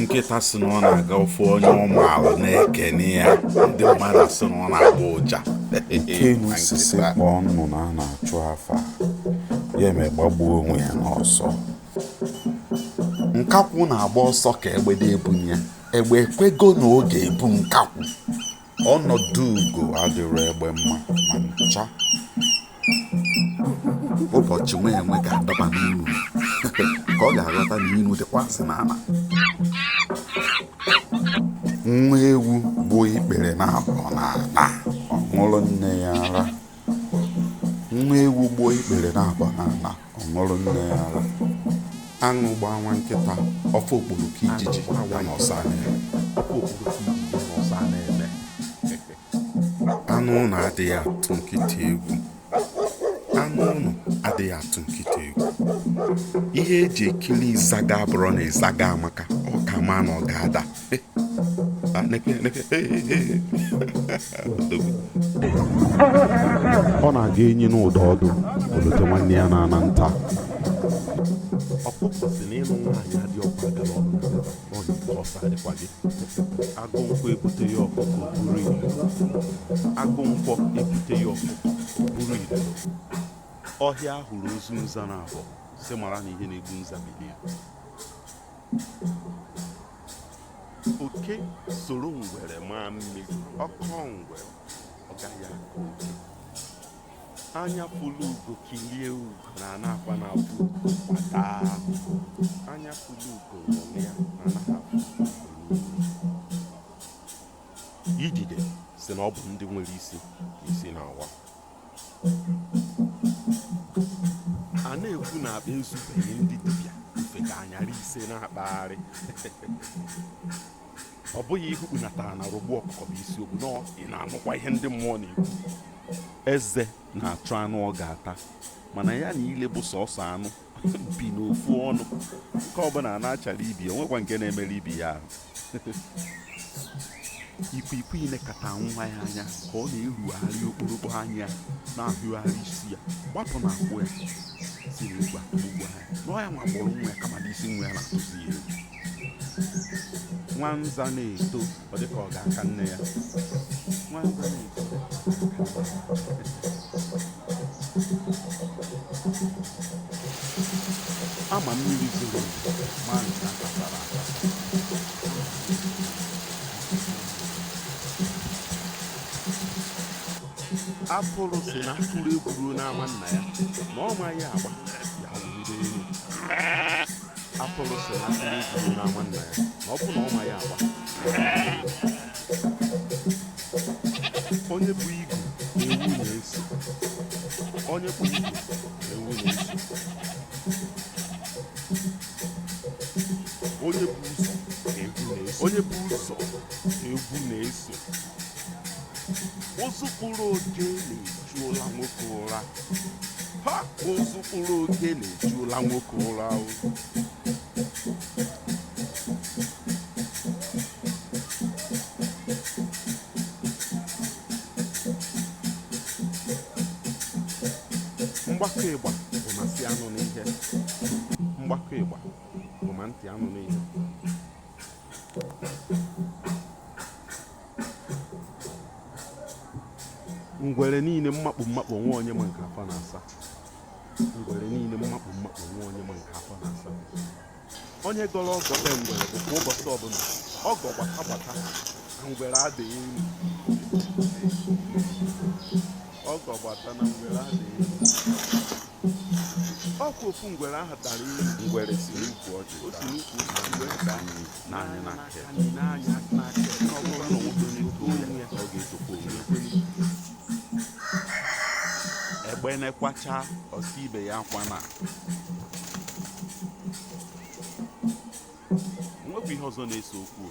nkịta si na ọ na-aga ọ fụ onye ọ maara na-ekene ya ndị mmadụ si na ọ na-agbọ ụja Nkenu si si kpọọ nnụnụ a na-achụ afa ya eme gbagbuo onwe ya n'ọsọ nkakwụ na-agba ọsọ ka egbe dị ebunye ya egbe ekwego na ọ ga-ebu nkakwụ ọnọdụ ugo adịrọ egbe mma ma ncha ụbọchị nwa enwe ga-adaba n'inu ka ọ ga-aghọta na inu dịkwazị n'ala nwa ewu gbuo ikpere naabọ n'ala ọ ṅụrụ nne ya ara nwa ewu gbuo ikpere naabọ n'ala ọ ṅụrụ nne ya ara aṅụ gbaa nwa nkịta ọ fụ okporoko ijiji ya na ọsọ anya ya anụ ụlọ adịghị atụ nkịta egwu anụ ụlọ adịghị atụ nkịta egwu ihe eji ekiri ịzaga abụrọ na ịzaga amaka ọ ka a ma na ọ ga-ada ọ na-aga enyi nụ ụda ọdụ o lote nwanne ya na-ana nta ọkụkọ si na ịlụ nwaanyị adịrọkwa agara ọnụ ọ na ike ọsọ adịkwa gị agụ nkwọ ebute ya ọkụkọ o buru ilu agụ nkwọ ebute ya ọkụkọ o buru ilu ọhịa a hụrụ ozu nza naabọ si mara na ihe na-egbu nza bi na ya oke soro ngwere maa mmiri ọ kọọ ngwere ọ gaghị akọ oke anya fụlụ ugo kilie ugo na anaghịkwanụ afụ ugo kwa daa anya fụlụ ugo ṅụrịa na anaghị afụ ugo idide si na ọ bụ ndị nwere isi ka isi na-awa a na-ekwu na akpa ezubeghị ndị dibịa ofeke anyara ise na-akpagharị ọ bụghị ihe ụkpana tara na-arogbu ọkụkọ bụ isiokwu na ị na-anụkwa ihe ndị mmụọ na-ekwu eze na-achọ anụ ọ ga-ata mana ya na ile bụ sọsọ anụ bi n'ofu ọnụ nke ọbụla na-achara ibe ya o nwekwa nke na-emerụ ibe ya ahụ ikwikwii lekata nwa ya anya ka ọ na-erugharị okporokpo anya na-ahụgharị isi ya gbapụ na akwụ ya si na egwu atụgbuo ya na ọ ya nwa kpọrọ nwa ya kama na isi nwa ya na-atụzi ya egwu nwa nza na-eto ọ dịka ọ ga-aka nne ya a ma mmiri zoro ma nke akwasara atụrụ si na a kụrụ egwu ruo n'ama nna ya na ọ maghị agba ya wụrụ elu atụrụ sị na atụrụ ejiji n'ama nna ya na ọ bụ na ọ maghị agba onye bu igu na ewu na-eso onye bu igu na ewu na-eso onye bu ụzọ ka ewu na-eso onye bu ụzọ ka ewu na-eso ozu kpụrụ oke na-egbu ejuola nwoke ụra ha ozu kpụrụ oke na-ejuola nwoke ụra o mgbakọ ịgba bụ ma ntị anụ n'ihe mgbakọ ịgba bụ ma ntị anụ n'ihe ngwere niile mmakpu mmakpu nwa onye ma nke afọ na-asa ngwere niile mmakpu mmakpu nwa onye ma nke afọ na-asa onye gọrọ ọgọ be ngwere bụ kwa ụbọchị ọbụla ọgọ gbata gbata na ngwere adịghị elu ọgọ gbata na ngwere adịghị elu ọkwa ofu ngwere ahụ dara elu ngwere si n'ukwu ọjị o si n'ukwu ngwere daa nee anya n'aka nee anya n'aka na ọ bụrụ na ọ bụrụ n'otu onye ya ka ọ ga-etokwa onwe ya egbene kwachaa ọ sị ibe ya akwana nwekwa ihe ọzọ na-ese okwu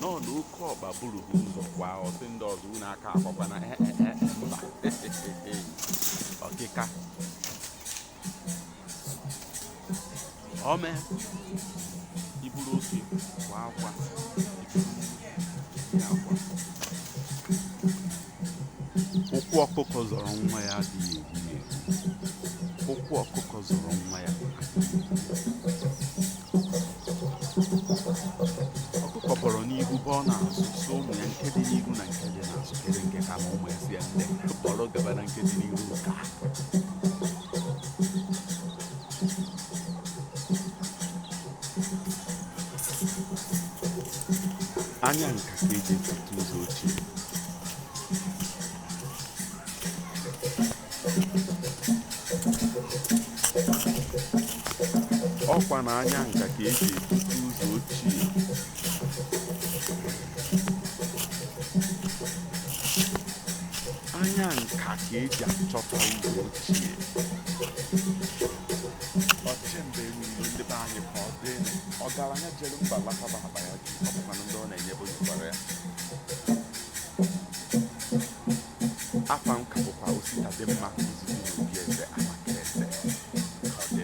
nọ na oke ọkpa buru ha ụzọ kwaa ọ sị ndị ọzọ unu aka akwakwana mba ọkịka ome iburu oke kwa akwa akwa ụkwụ ọkụkọ zọrọ nwa ya adịghị egbu ya egbu. ụkwụ ọkụkọ zọrọ nwa ya ọkụkọ bọrọ n'ihu bọọ n'azụ sị ụmụ ya nke dị n'ihu na nke dị n'azụ kere nke ka mma ụmụ ya sị ya nne bọrọ gaba na nke dị n'ihu ka anya nka ka eji etute ụzọ ochie ọkwa na anya nka ka eji etute ụzọ ochie anya nka ka eji achọta ụzọ ochie ọchịmba niile ndị be anyị ka ọ dị ọgaranya jere mba lakaba akpa ya ju ọ bụkwanụ ndị ọ na-enyebu nyekwara ya afa m ka bụkwa ositadịmma izizi n'obi eze amakịrị eze ka ọ dị